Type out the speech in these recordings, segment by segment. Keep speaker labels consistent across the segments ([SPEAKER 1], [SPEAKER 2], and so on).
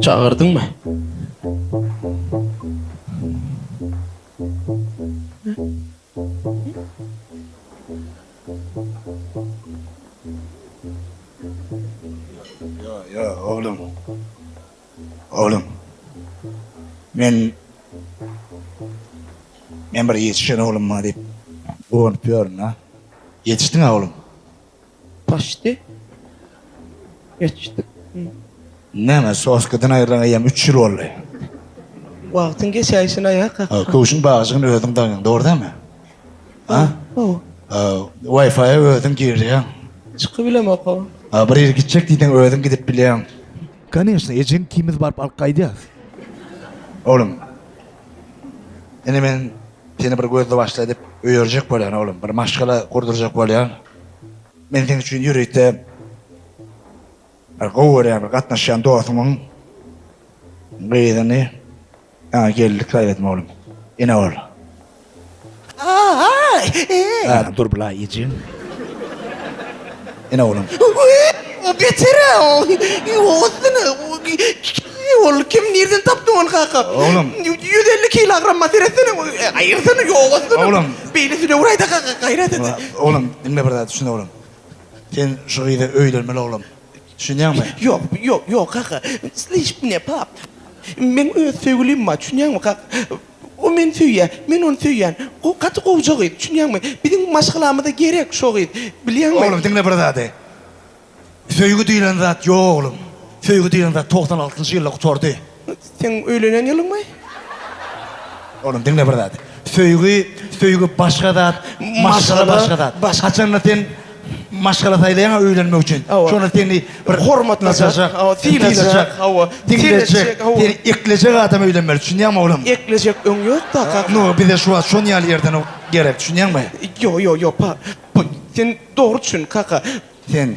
[SPEAKER 1] Çagyrdyňmy? Ýo-ýo, oglum. Oglum, men, men bir ýetişen oglum bar diýip guwanyp ýörün-ä. Ýetişdiň-ä, oglum. Paşdi geçdik ýa. Näme, soskidan aýrylaňa ýam üç ýyl boldy. Wagtyň geçäýşine ýa kaka. Köwşüň bagjygyny özüň daňýaň, dogry dälmi? A? Hawa. Wi-Fi-a özüň girýäň. Çykyp bilemok-a. A bir ýere gitjek diýseň özüň gidip bilýäň. Koneşne, ejeň ikimiz baryp alyp gaýdýas. Oglum, ine men Seni bir gözli-başly edip öýerjek bolýan, oglum. Bir maşgala gurdurjak bolýan. Men seň üçin ýürekde bir gowy görýän, bir gatnaşýan dostumyň gyzyny saňa gellik saýladym, oglum. Ene bol. Aý! Dur, bulaý, ejeň. Ene oglum. Wwyyy o beter-ä o. Ýogasyn-a o kim ol kim nirden tapdyň ony kaka? Oglum. Ýüz elli kilogrammyna seretsene o gaýyrsyny ýogasyn. Oglum. Beýle sülewraýda kaka gaýrat et. Oglum diňle bir zat düşün oglum. Sen şu gyza öýlenmeli oglum. Düşünýäňmi? Ýok ýok ýok kaka. Slyş mne pap. Meň öz söýgülim bar düşünýäňmi kaka. O meni söýýä, men ony söýýän. Go gaty gowja gyz, düşünýäňmi? Biziň maşgalamyza gerek şo gyz, bilýäňmi? Oglum, diňle bir zady. Söýgi diýlen zat ýok, oglum. Söýgi diýlen zat togsan altynjy ýylda gutardy. Seň öýlenen ýylyňmy? Oglum, diňle bir zady. Söýgi, söýgi başga zat, maşgala başga zat. Haçanda sen. maşgala saýlaýaň öýlenmek üçin. Şonda seni bir hormatlajak, synajak, hawa, diňlejek, seni eklejek adam öýlenmeli, düşünýäňmi oglum? Eklejek öň ýok-da, kaka. No, bize şu wagt şon ýaly ýerden gerek, düşünýäňmi? Ýok, ýok, ýok, pa, pa, sen dogry düşün, kaka. Sen.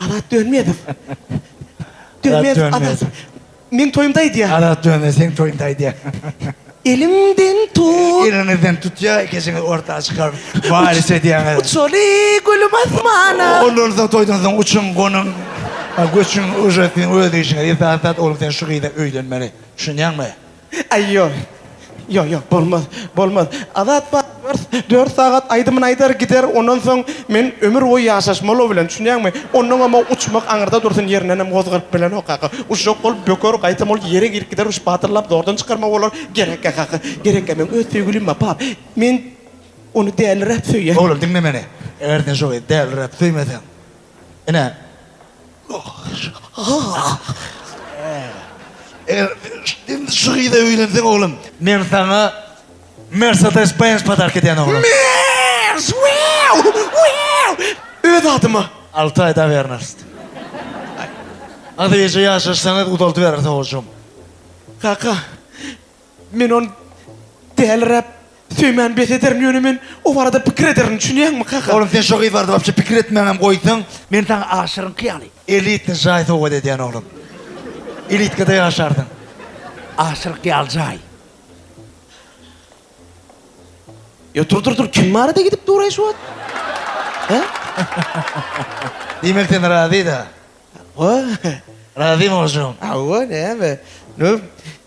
[SPEAKER 1] Azat Dönmezow. Dönmezow Azat. Meň toýumda aýdýar. Azat Dönmezow seň toýunda aýdýar. Elimden tut. Eliňizden tutýar, ikisiňiz orta çykaryp, walis edýäňiz. Uçaly gülüm asmana. Ondan soň toýdan soň uçuň, gonuň. Göçüň, uje siziň öz işiňiz. Esasy zat, oglan sen şu gyza öýlenmeli. Düşünýäňmi? Aý ýok. Ýok, ýok, bolmaz, bolmaz. Azat bar, dört, dört sagat aýdymyny aýdar gider, ondan soň men ömür boýy ýaşaşmaly o bilen, düşünýäňmi? Ondaňam o uçmak aňyrda dursun, ýerindenem gozganyp bilenok kaka. Uçjak bolup böker, gaýtam ol ýere girip gider, uçup batyrlap zordan çykarmak bolar. Gerekkä kaka, gerekkä, meň öz söýgülim bar, bar. Men ony däliräp söýýän. Oglum, diňle meni. Eger sen şo gyzy däliräp söýmeseň, Ine, indi şu gyza öýlenseň oglum. Men saňa Mersedes Benz podark edýän oglum. Mers! Wew! Wew! Öz adyma! Alty aýda wernast. Aý, az eje ýaşaşsaňyz uzaldybereris owujygym. Kaka. Men ony däliräp söýmän bes ederin, ýöne men o barada pikir ederin, düşünýäňmi, kaka? Oglum, sen şo gyz barada wapşe pikir etmäňem goýsaň, men saňa aşyryňky ýaly, elitny jaý sowgat edýän, oglum. Elitkada ýaşarsyň. Aşyryňky ýaly jaý. Ýo, dur, dur, dur, kim barada gidip duraý şu wagt? Hä? Diýmek, sen razy-da? Hawa. Razymy, ožugym? Hawa, näme? Num,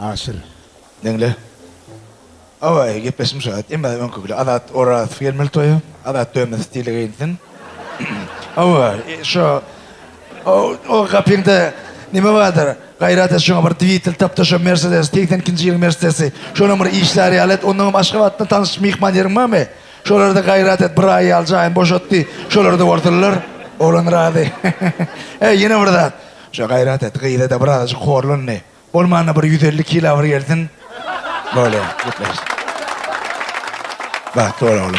[SPEAKER 1] Aşyr, meňle. Awaý, gepleşim şo. Emma öňki bile Azat Orazow gelmeli toýa. Azat dönmez, stili geýinsin. Awaý, şo. O gapyňda nime bardyr? Gaýrat et, şoňa bir dwitel tap-da, şo Mersedes, segsen ikinji ýylyň Mersedesi. Şonuň bir işleri ýaly et. Onnoňam Aşgabatda tanyş myhman ýeriň barmy? Şolarda gaýrat et, bir aý ýaly jaýyny boşat diý. Şolarda bolsunlar. Oglan razy. He, ýene bir zat. Şo gaýrat et, gyza-da birazajyk horlandy. Bolmanda bir ýüz elli kila bir gelsin. Bolýa, gepleş. Bagtly bol oglum.